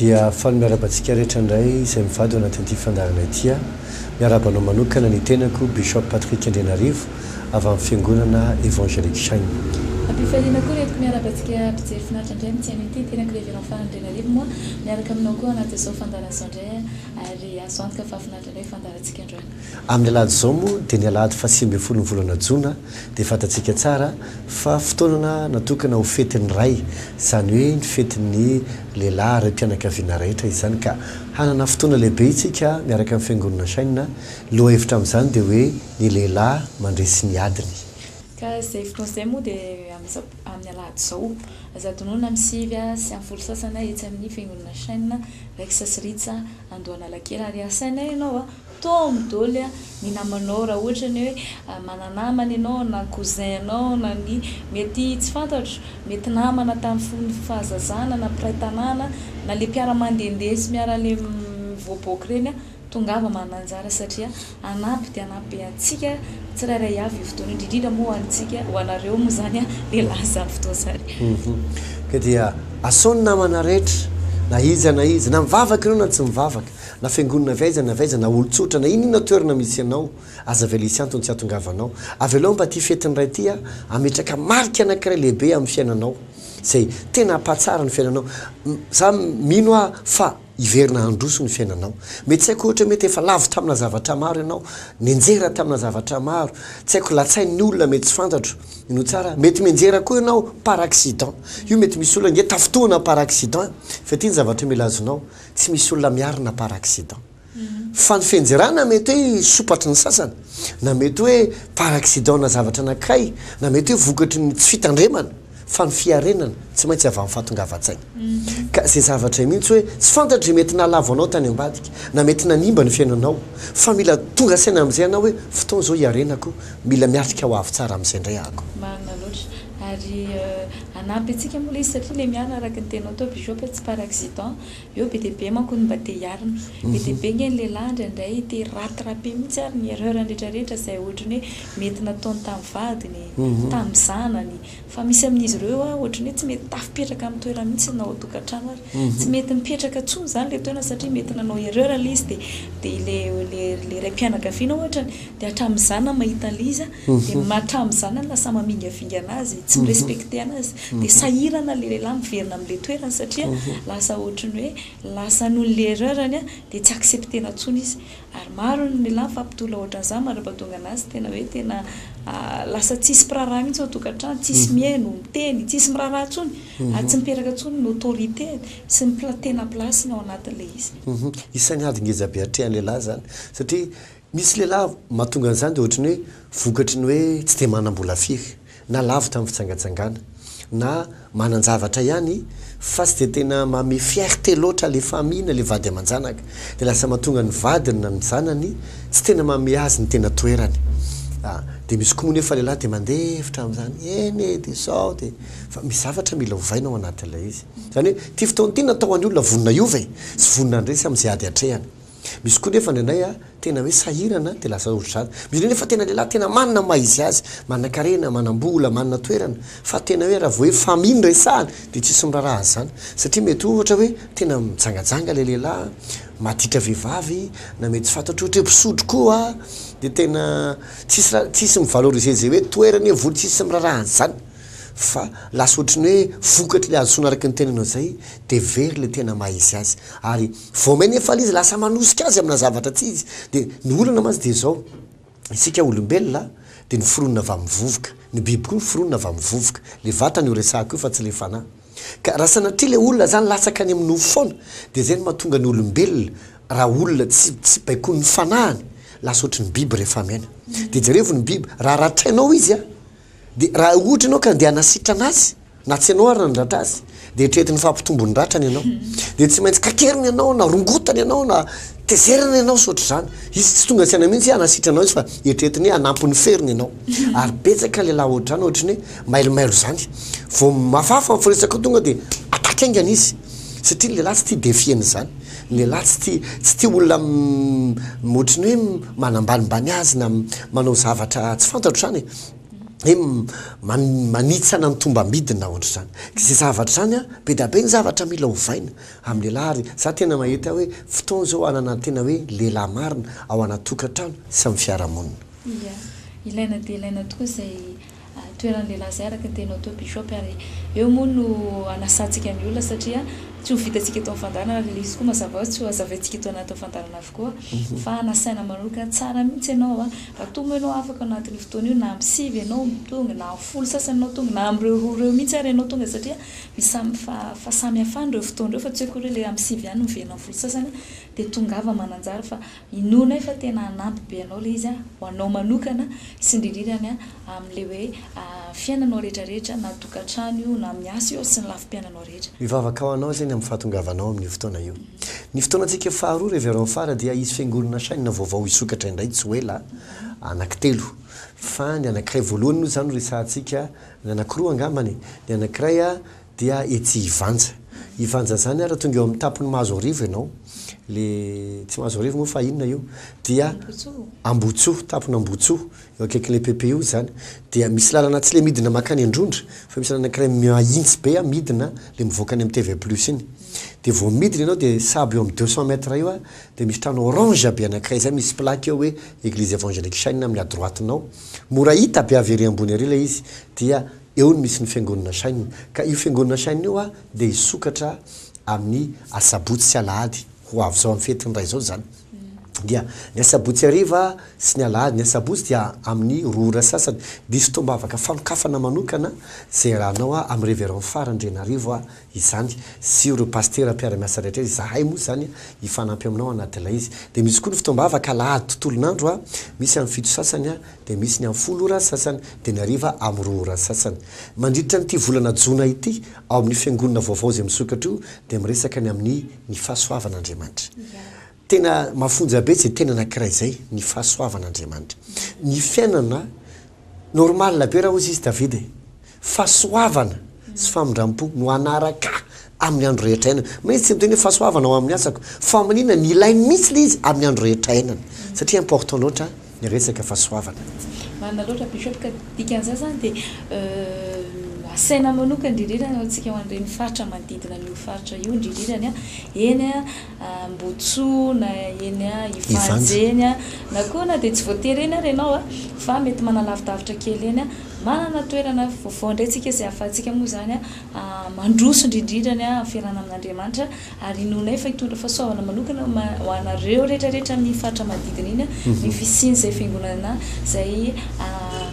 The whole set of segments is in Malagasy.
Dia faly miaraba antsika rehetra indray izay mivady ao anatin'ity fandaharana ity aho. Miaraba anao manokana ny tenako Bishop Patrick Andrianarivo avy amin'ny Fiangonana Evangelic Shine. Am-pifaliana koa rentiko miaraba antsika mpijery finaritra indray amin'ny tsy haino ity, ny tenako Reverend Fara Andrianarivo moa miaraka aminao koa anatin'izao fandaharana izao indray. Ary azo antoka fa finaritra indray ny fandaharantsika androany. Amin'ny alahady izao moa dia ny alahady fahasivy ambin'ny folon'ny volana jona dia fantatsika tsara fa fotoanana natokana ho fetin'ny ray izany hoe ny fetin'ny lehilahy raim-pianakaviana rehetra izany ka hanana fotoana lehibe isika miaraka amin'ny fiangonana China lohahevitra amin'izany dia hoe ny lehilahy mandresy ny adiny ka izay fotoana izay moa dia amin'ny amin'ny alahady izao, zato noana amin'ny sivy sy amin'ny folo sasany etsy amin'ny fiangonana Shane, Rex sy Rich Andohanalakely, ary asaina ianao toa amin'ny doly ny namanao raha ohatra ny hoe mana-namana ianao na cousin anao na ny mety tsy fantatro, mety namana tamin'ny fahazazana na mpiray tanàna na ilay mpiara-mandehandeha sy miara-mivoaboaka ireny. Tongava mananjara satria hanampy dia hanampy be antsika tsirairay avy io fotoana io, indrindrindra moa ho antsika, ho anareo moa izany lehilahy izany fotoana izany. Ka dia asao ny namana rehetra, na iza na iza, na mivavaka ianao na tsy mivavaka, na fiangonana avy aiza na avy aiza, na olon-tsotra, na inona toerana misy anao, aza avela hisy antony tsy hahatongavanao. Avelao mba ity fetin'ny Ray ity hametraka marika anankiray lehibe amin'ny fiainanao, izay tena hampahatsara ny fiainanao. Izaho mino aho fa Hiverina handroso ny fiainanao. Mety tsy haiko ohatra hoe mety efa lavo tamina zavatra maro ianao, nianjera tamina zavatra maro, tsy haiko latsain'ny olona, mety tsy fantatro no tsara, mety mianjera koa ianao par accident, io mety misy olona ange tafintohina par accident, fa ity ny zavatra mila azonao, tsy misy olona miarina par accident, fa ny fianjerana mety hoe sopatry ny sasany, na mety hoe par accident-na zavatra anankiray, na mety hoe vokatry ny tsy fitandremana. fa ny fiarenana tsy maintsy avy amin'ny fahatongavan-tsaina. Ka izay zavatra mihitsy hoe tsy fantatry mety nahalavo anao tany ambadika na mety nanimba ny fiainanao fa mila tonga saina amin'izay ianao hoe fotoana izao hiarenako, mila miatrika ho avy tsara amin'izay indray ahako. Marina loatra. Ary hanampy antsika moa ilay izy satria ilay miara araka ny teninao teo Bishop hoe tsy par accident. Eo be dia be manko ny mba te hiarina. Be dia be ange ny lehilahy indraindray te hi-rattraper mihitsy ary ny erreur-ny rehetrarehetra izay ohatry ny hoe mety nataony tamin'ny vadiny, tamin'ny zanany. Fa misy amin'izy ireo eo ohatry ny hoe tsy mety tafipetraka amin'ny toerany mihitsy na ao an-tokantrano aza. Tsy mety mipetraka intsony izany ilay toerana satria mety nanao erreur ilay izy dia dia ilay ilay raim-pianakaviana ohatra dia hatramin'ny zanany mahita an'ilay izy dia hatramin'ny zanany lasa mamingavingana azy, tsy mi-respecter anazy. Dia sahirana ilay lehilahy miverina amin'ilay toerany satria lasa ohatry ny hoe lasa noho ny l'erreur-ny dia tsy accepter-na intsony izy. Ary maro ny lehilahy mifampitolona ohatran'izany mandrapahatonga an'azy tena hoe tena lasa tsisy mpiraharaha mihitsy ao an-tokantrano, tsisy mihaino, miteny, tsisy miraharaha intsony ary tsy miteraka intsony ny autorité sy ny pla- tena place-ny ao anatin'ilay izy. Isan'ny ady ngeza be atrehan'ny lehilahy izany satria misy lehilahy mahatonga an'izany dia ohatry ny hoe vokatry ny hoe tsy dia manam-bola firy. na lavitra amin'ny fitsangatsangana na manan-javatra ihany fa tsy dia tena manome fierté loatra ilay famille na ilay vady aman-janaka dia lasa mahatonga ny vadiny na ny zanany tsy tena manome azy ny tena toerany ah, dia misy koa moa nefa lehilahy dia mandefitra amin'izany eny e dia izao dia fa misy zavatra mila ovaina ao anatin'ilay izy izany hoe ity fotoana ity natao ho an'ny olona vonona hiova e, tsy vonona handresy amin'izay ady atrehany. Misy koa nefa indraindray a, tena hoe sahirana dia lasa ohatry izany. Misy indray nefa tena lehilahy tena manana ny maha izy azy, manan-karena, manam-bola, manana toerana, fa tena hoe raha vao hoe famille no resahana dia tsisy miraharaha azy izany. Satria mety hoe ohatra hoe tena mijangajanga ilay lehilahy, maditra vehivavy, na mety tsy fantatro ohatra hoe mpisotro koa, dia tena tsisy raha, tsisy mi-valoriser izay hoe toerany hoe vola, tsisy miraharaha an'izany. Fa lasa ohatry ny hoe vokatr'ilay azo soa na araka ny tenenao izay dia very ilay tena maha izy azy. Ary. Vao mainka efa izy lasa manosika azy amina zavatra tsy izy dia ny olana mantsy dia izao, isika olombelona dia noforonina avy amin'ny vovoka, ny biby koa noforonina avy amin'ny vovoka, ilay vatana io resahako io fa tsy ilay fanahy. Ka raha sanatria ilay olona izany latsaka any amin'ny nofo foana dia izay no mahatonga ny olombelona raha olona tsy tsy baikoin'ny fanahiny lasa ohatry ny biby rehefa miaina. Dia jerevo ny biby, raha ratrainao izy a! Dia raha ohatra ianao ka andeha hanasitrana azy, na tsy ianao ary nandratra azy, dia eritrereto ny fahampitombo ny ratrany ianao. Dia tsy maintsy kakeriny ianao, na rongotany ianao, na tezerana ianao sy ohatr'izany. Izy tsy tonga saina mihitsy hoe hanasitra anao izy fa eritrereto ny hoe hanampy ny ferony ianao. Ary betsaka ny lehilahy ohatr'izany, ohatry ny hoe mailomailo izany. Vao mafafa ny firesaka tonga dia attaque haingana izy. Satria ny lehilahy tsy tia défier an'izany. Ny lehilahy tsy tia, tsy tia olona ohatry ny hoe manambanimbany azy na manao zavatra tsy fantatro izany e. hoe manitsana ny tombambidiny na ohatr'izany. Izay zavatra izany an, be dia be ny zavatra mila ovaina amin'ny lehilahy ary za tena mahita hoe fotoana izao hanana tena hoe lehilahy marina ao anaty tokantrano sy amin'ny fiarahamonina. Ia, ilaina dia ilaina tokoa izay toeran'ny lehilahy izay araka ny teninao teo Bishop ary eo moa no anasantsika ny olona satria tsy ho vitantsika eto amin'ny fandaharana ary ilay izy koa mazava ho azy tsy ho hazavaintsika eto anatin'ny fandaharana avokoa fa nasaina manokana. Tsara mihitsy ianao an! Raha moa ianao afaka ao anatin'io fotoana io, na amin'ny sivy ianao tonga, na amin'ny folo sasany ianao tonga, na amin'ireo roa ireo mihitsy ary ianao tonga satria misy samy fahasamihafany ireo fotoana ireo fa tsy hoe akory hoe ilay amin'ny sivy ihany no miverina amin'ny folo sasany, dia tongava mananjary fa inoanay fa tena hanampy be anao ilay izy ho anao manokana sy indrindrindra amin'ilay hoe fiainanao rehetrarehetra na tokantrano io na amin'ny asa io ary sy ny lafim-piainanao rehetra. Mivavaka ho anao izay ny amin'ny fahatongavanao amin'io fotoana io. Ny fotoanantsika faharoa Reverend Fara dia hisy fiangonana Chaine vaovao hisokatra indray tsy ho ela, anaky telo, fa ny anakiray voalohany moa izany no resahantsika, ny anakiroa angambany e! ny anakiray dia etsy Ivanja, Ivanja izany ary tonga eo amin'ny tampon'i Mahazoarivo ianao, le tsy Mahazoarivo moa fa inona io? dia Ambohitsoa, tampon'Ambohitsoa, Eo akaikin'ilay PP io izany dia misy lalana tsy le midina makany Androndra fa misy lalana ankiray mahintsy be a midina le mivoaka any amin'ny TV plus iny dia vao midina ianao dia sahabo eo amin'ny deux cent mètres eo a dia misy trano orange be anankiray zay misy plaque eo hoe Eglise Evangelique Shine amin'ny à droite nao mora hita be avy ery ambony ery ilay izy dia eo no misy ny fiangonana Shine ka io fiangonana Shine io a dia hisokatra amin'ny asabotsy sy alahady ho avy zao amin'ny fetin'ny ray zao izany. dia ny asabotsy hariva sy ny alahady. Ny asabotsy dia amin'ny roa ora sasany. Diso tombavaka fanokafana manokana izay iarahanao amin'ny Révérend Phare Andrianarivo izany sy ireo Pasitera mpiara-miasa rehetra. Izahay moa izany hifanampy aminao anatin'ilay izy. Dia misy koa ny fotoambavaka alahady tontolon'andro, misy amin'ny fito sasany dia misy ny amin'ny folo ora sasany, dia ny hariva amin'ny roa ora sasany. Mandritra an'ity volana jona ity ao amin'ny Fiangonana vaovao izay misokatra io dia miresaka ny amin'ny. ny fahasoavan' Andriamanitra. Tena mafonja be izay tena anankiray izay, ny fahasoavan' Andriamanitra. Ny fiainana, normal be raha hozy izy Davida e! fahasoavana sy famindram-po no hanaraka ahy amin'ny andro rehetra iainana. Moa izy tsy niteny hoe fahasoavana ao amin'ny asako, fa maninona, nilainy mihitsy ilay izy amin'ny andro rehetra iainana, satria important loatra Niresaka fahasoavana. Marina loatra Bishop ka dikan'izany zany dia asaina manokana indrindrirany ho antsika ho an'ireny faritra manodidina an'io faritra io indrindrirany a, eny a Ambohitsoa na eny a Ivanja eny a, na koa na dia tsy voatery eny ary ianao a, fa mety manalavidavitra kely eny a, manana toerana vaovao indray tsika izay ahafahantsika moa izany a mandroso indrindrirany a amin'ny fiarahana amin'Andriamanitra. Ary inoanay fa hitondra fahasoavana manokana ho anareo rehetra rehetra amin'ny faritra manodidina iny ny fisian'izay fiangonana izay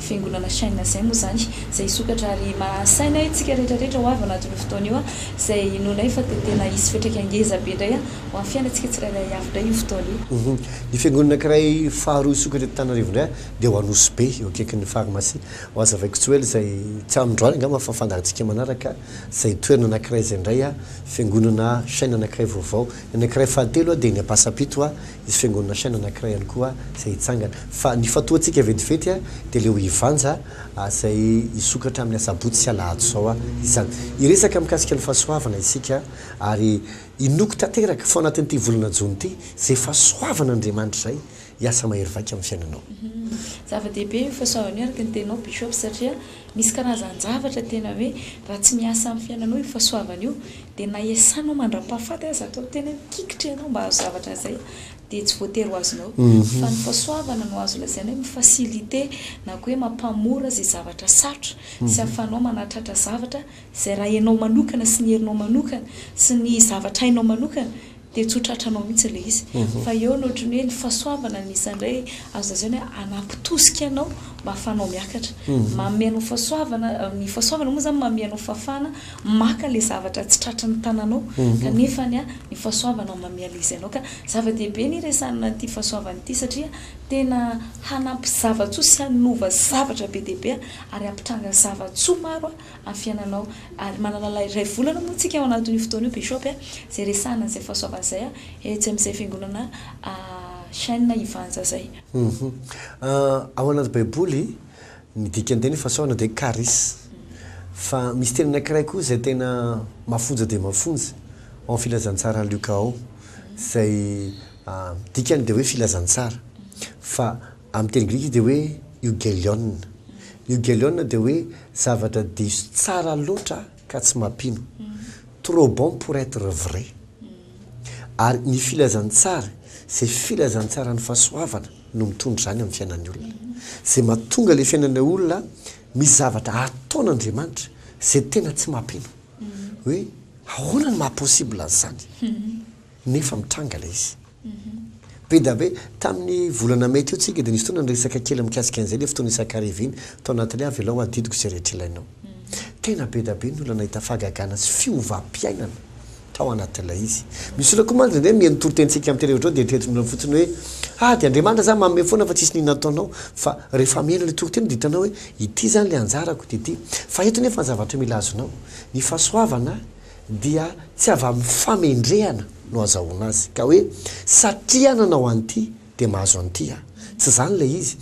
fiangonana Shine izay moa izany izay hisokatra ary mahasaina antsika rehetra rehetra ho avy ao anatin'io fotoana io izay inoanay fa dia tena hisy fetr'aika ngeza be indray ho an'ny fiainantsika tsirairay avy indray io fotoana io. Ny fiangonana ankiray faharoa hisokatra eto Antananarivo indray dia ao Anosibe eo akaikin'ny farmasia Hoazavaiko Tsoela izay tsy androany angamba fa fandahantsika manaraka. Izay toerana anankiray izay indray a, fiangonana chaine anankiray vaovao. Ny anankiray fahatelo a dia eny Ampasampito a, hisy fiangonana chaine anankiray ihany koa izay hitsangana. Fa ny fatoantsika vetivety a, dia leo hivanja a, izay hisokatra amin'ny asabotsy sy alahady izao a, izany. Hiresaka mikasika ny fahasoavana isika ary hinoako tanteraka fa ao anatin'ity volana jona ity, izay fahasoavan' Andriamanitra izay hiasa mahery vaika amin'ny fiainanao. Zava-dehibe io fahasoavana io araka ny teninao Bishop satria Misy karazan-javatra tena hoe raha tsy miasa amin'ny fiainanao io fahasoavana io dia na iasanao mandra-pahafaty aza atao tena mikikitra ianao mba hahazo zavatra izay dia tsy voatery ho azonao. Fa ny fahasoavana no azo lazaina hoe mi-faciliter na koa hoe mampamora izay zavatra sarotra sy ahafahanao manatratra zavatra izay raha ianao manokana sy ny herinao manokana sy ny zavatra hainao manokana Dia tsotra hatranao mihitsy ilay izy. Fa eo ny ohatran'ny hoe ny fahasoavana no isan'ny indray azo lazaina hoe hanapitosika anao mba hahafahanao miakatra. Manome anao fahasoavana, ny fahasoavana moa izany manome anao fahafahana maka ilay zavatra tsy tratran'ny tananao. Kanefa ny fahasoavana manome an'ilay izy anao. Ka zava-dehibe ny hiresahana an'ity fahasoavana ity satria tena hanampy zava-tsoa sy hanova zavatra be dia be ary hampitranga zava-tsoa maro. amin'ny fiainanao ary manana ilay iray volana moa tsika ao anatin'io fotoana io Bishop a, izay resahana an'izay fahasoavana izay a, etsy amin'izay fiangonana chaine Ivanja izay. Ao anaty baiboly ny dikan-teny fahasoavana dia charis, fa misy teny anankiray koa izay tena mafonja dia mafonja ao amin'ny filazantsara Luka ao, izay dikany dia hoe filazantsara, fa Amin'ny teny grika izy dia hoe eu'gelion. Ny eu'gelion dia hoe zavatra diso tsara loatra ka tsy mampino, trop bon pour être vrai. Ary ny filazantsara, izay filazantsaran'ny fahasoavana no mitondra izany amin'ny fiainan'ny olona. Izay mahatonga ilay fiainan'ilay olona misy zavatra ataon'Andriamanitra izay tena tsy mampino. Hoe ahoana no maha possible an'izany? Nefa mitranga ilay izy. Be dia be. Tamin'ny volana mey teo tsika dia nisy fotoana niresaka kely mikasika an'izay ilay fotoana isakariviany tao anatin'ny Avelao adidiko izay rehetra ilainao. Tena be dia be ny olona nahita fahagagana sy fiovam-piainana tao anatin'ilay izy. Misy olona koa mantsy indraindray mihaino toritenintsika amin'ity rehetra izao dia eritreretiny olona fotsiny hoe ah dia Andriamanitra izany manome foana fa tsisy ny inona ataonao. Fa rehefa mihaino ilay toriteny dia hitanao hoe ity izany ilay anjarako dia ity. Fa eto nefa ny zavatra mila azonao, ny fahasoavana, dia tsy avy amin'ny famendrehana no azahoana azy ka hoe satria nanao an'ity dia mahazo an'ity aho. Tsy izany ilay izy.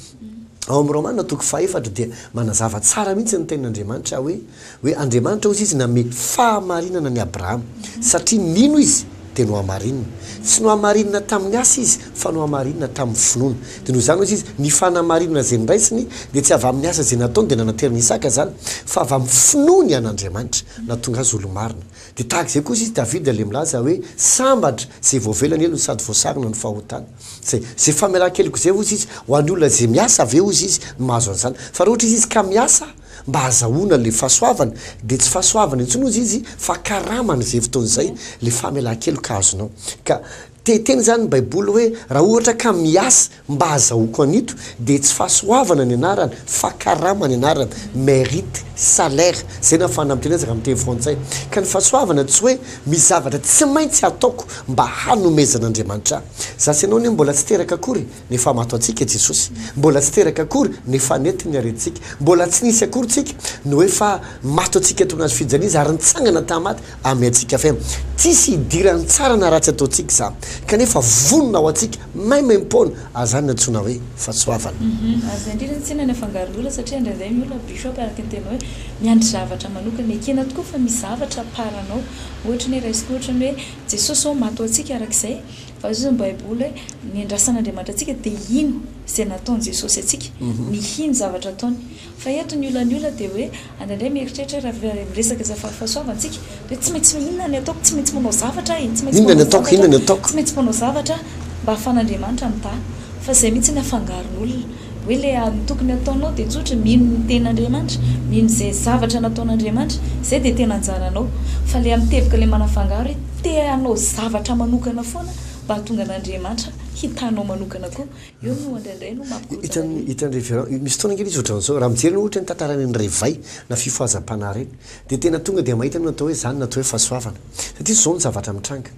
Ao amin'ny Romana toko fahefatra dia manazava tsara mihitsy ny tenin'Andriamanitra hoe, hoe Andriamanitra hozy izy nanome fahamarinana an'i Abrahama, satria nino izy dia nohamarinina. Tsy nohamarinina tamin'ny asa izy fa nohamarinina tamin'ny finoana. Dia noho izany, hoy izy, ny fanamarinana izay noraisiny dia tsy avy amin'ny asa izay nataony dia nanateran'i Isaka izany, fa avy amin'ny finoany an'Andriamanitra, nahatonga azy olo-marina. Dia tahaka izay kosa izy, Davida, ilay milaza hoe, Sambatra izay voavela ny helony sady voasarona ny fahotany. Izay, izay famelan-keloka izay, hoy izy, ho an'ny olona izay miasa avy eo, hoy izy, no mahazo an'izany. Fa raha ohatra izy izy ka miasa mba hahazahoana ilay fahasoavana, dia tsy fahasoavana intsony, hoy izy, fa karama an'izay fotoana izay, ilay famelan-keloka azonao. Ka Te hiteny izany ny Baiboly hoe, Raha ohatra ka miasa mba hahazahoako an'ito, dia tsy fahasoavana ny anarany, fa karama ny anarany, mérite, salaire, izay na fanampiana ezaka amin'ny teny frantsay. Ka ny fahasoavana tsy hoe misy zavatra tsy maintsy hataoko mba hanomezan'Andriamanitra ahy. Za sy ianao anie mbola tsy teraka akory nefamato antsika Jesosy. Mbola tsy teraka akory nefanety ny aretintsika. Mbola tsy nisy akory tsika no efa mato antsika tony hazo fijaliana Izy ary nitsangana tamaty. Amy antsika fe tsisy hidirany tsara na ratsy ataontsika za kanefa vonona ho antsika maimaimpoana azany nantsoina hoe fatsoavana. Hum aza indrindra ny tsinana afangaro lola satria indraindray ny olona bishop araka ny teninao hoe miandry zavatra manokana ekena tokoa fa misy zavatra à part anao ohatra ny hoe raisiko ohatra ny hoe jesosy zao maty ho antsika araka izay vazohazan'ny baiboly hoe ny andrasan'Andriamanitra antsika dia hino izay nataon'i jesosy antsika ny hino zavatra ataony Fa eto ny olan'ny olona dia hoe any indray mieritreritra hoe raha miresaka izay fahafahasoavantsika dia hoe tsy maintsy inona ny ataoko, tsy maintsy manao zavatra aho e, tsy maintsy manao zavatra, tsy maintsy manao zavatra aho mba ahafan'Andriamanitra mitaha. Fa izay mihitsy no afangaron'olona. Hoe ilay ny tokony hataonao dia tsotra e, mino ny Tenin'Andriamanitra, mino izay zavatra nataon'Andriamanitra, izay dia tena anjaranao. Fa ilay amin'ny teboka ilay manafangaro hoe te hanao zavatra manokana foana mba hahatonga an'Andriamanitra hitahanao manokana koa. Io no indraindray no mampikotana ny. Hitan'i Reverend, io misy fotoana kely izy ohatran'izao, raha mijery ianao ohatra ny tantaran'i Andrevay na fifohazam-panahy ireny, dia tena tonga dia mahita ny atao hoe izany no atao hoe fahasoavana. Satria izao no zavatra mitranga,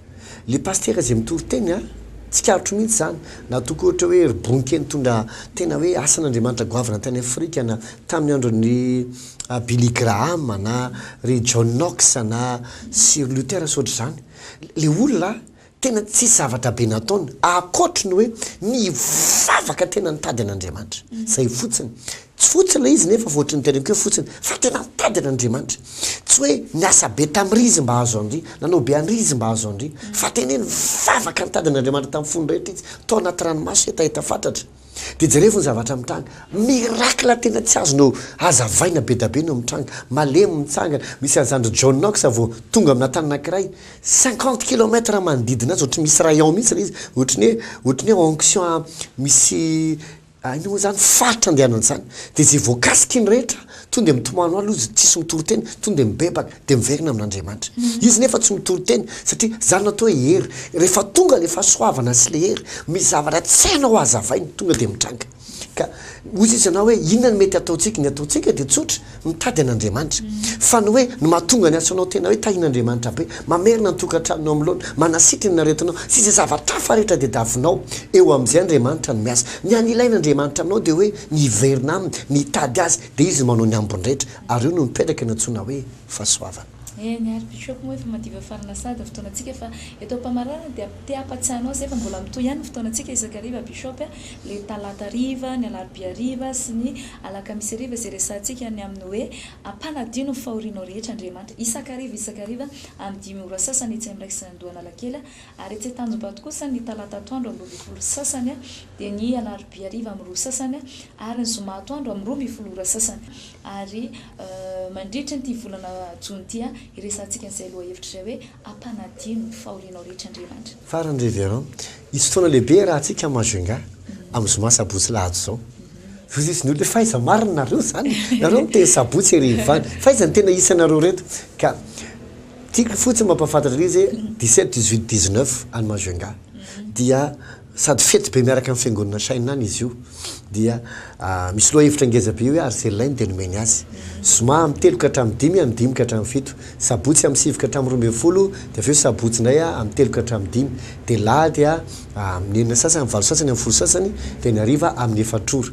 ilay pasitera izay mitoriteny a, tsikaritro mihitsy izany, na toa koa ohatra hoe ry Bonke nitondra tena hoe asan'Andriamanitra goavana tany Afrika na tamin'ny andron'i Billy Graham na ry John Knox na Sir Luther sy ohatr'izany. Ilay olona Tena tsisy zavatra be nataony ankoatry ny hoe nivavaka tena nitady an'Andriamanitra. Izay fotsiny. Tsy fotsy ilay izy nefa fa ohatry ny teneniko hoe fotsiny fa tena nitady an'Andriamanitra. Tsy hoe niasa be tamin'ry izy mba hahazo an'ry, nanao be an'ry izy mba hahazo an'ry, fa tena hoe nivavaka nitady an'Andriamanitra tamin'ny fony rehetra izy, tao anaty ranomaso hetaheta fatratra. Dia jerevo ny zavatra mitranga. Miracle tena tsy azo nohazavaina bedabe no mitranga. Malemy mitsangana. Misy an'izany ry John Knox vao tonga amina tany anankiray. Cinquante kilomètre manodidina azy ohatry misy rayon mihitsy ilay izy. Ohatry ny hoe, ohatry ny hoe onction misy, inona moa izany, faritra andehanany izany. Dia izay voakasiky ny rehetra. Tonga dia mitomany hoalo izy, tsisy mitory teny, tonga dia mibebaka, dia miverina amin'Andriamanitra. Izy nefa tsy mitory teny, satria izany no atao hoe hery. Rehefa tonga ilay fahasoavana sy ilay hery, misy zavatra tsy hainao hazavaina, tonga dia mitranga. Ka hoy Jesoa ianao hoe inona no mety hataontsika? Ny hataontsika dia tsotra, mitady an'Andriamanitra. Fa ny hoe ny mahatonga ny asonao tena hoe tahian'Andriamanitra be, mamerina ny tokantranonao amin'ny laona, manasitrana ny aretinao, sy izay zavatra hafa rehetra tadiavinao, eo amin'izay Andriamanitra no miasa. Ny hany ilain'Andriamanitra aminao dia hoe Miverina aminy, mitady azy, dia izy no manao ny ambiny rehetra, ary eo no mipetraka ny antsoina hoe fahasoavana. Eny ary Bishop moa efa madiva farina Sady fotoanantsika efa eto ampamarana dia te hampatsiahy anao izay fa mbola mitohy ihany ny fotoanantsika isakariva Bishop a, le talata hariva, ny alarobia hariva sy ny alakamisy hariva izay resahantsika ny amin'ny hoe ampanadino ny fahorianao rehetra Andriamanitra isakariva isakariva amin'ny dimy ora sasany etsy amin'ny Raisin'Andohanalakely Ary etsy Antanjombato kosa ny talata atoandro amin'ny roa ambin'ny folo sy sasany dia ny alarobia hariva amin'ny roa sy sasany ary ny zoma atoandro amin'ny roa ambin'ny folo ora sy sasany. Ary mandritry ity volana jona ity hiresahantsika an'izay lohahevitra izay hoe ampanadino ny fahorianao rehetra Andriamanitra. Farany Reverend, hisy fotoana lehibe iarahantsika amin'i Majunga amin'ny zoma sabotsy lahady izao. Voazizi ny olona hoe fa aiza marina nareo izany? Nareo miteny sabotsy hariva any, fa aiza ny tena isanareo ireto? Ka. Tiako fotsiny mampahafantatra an'izy hoe dix-sept, dix-huit, dix-neuf any Majunga dia sady fety be miaraka amin'ny fiangonana Shin any izy io dia misy lohahevitra ngeza be hoe Arzellay no dia nomeny azy. Zoma amin'ny telo ka hatramin'ny dimy, amin'ny dimy ka hatramin'ny fito. Sabotsy amin'ny sivy ka hatramin'ny roa ambin'ny folo dia avy eo sabotsy indray amin'ny telo ka hatramin'ny dimy. Dia lahady amin'ny enina sasany, amin'ny valo sasany, amin'ny folo sasany dia ny hariva amin'ny efatr'ora.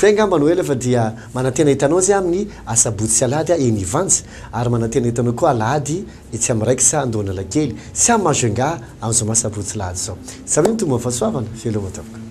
Zay angamba no ela fa dia manantena hitanao zay aminy asabotsy sy alahady aho eny Ivanja ary manantena hitanao koa alahady etsy am raikitra Andohanalakely sy am Majunga am zoma sabotsy lahady zao. Zao iny Tomba Fahasoavana, veloma tompoko.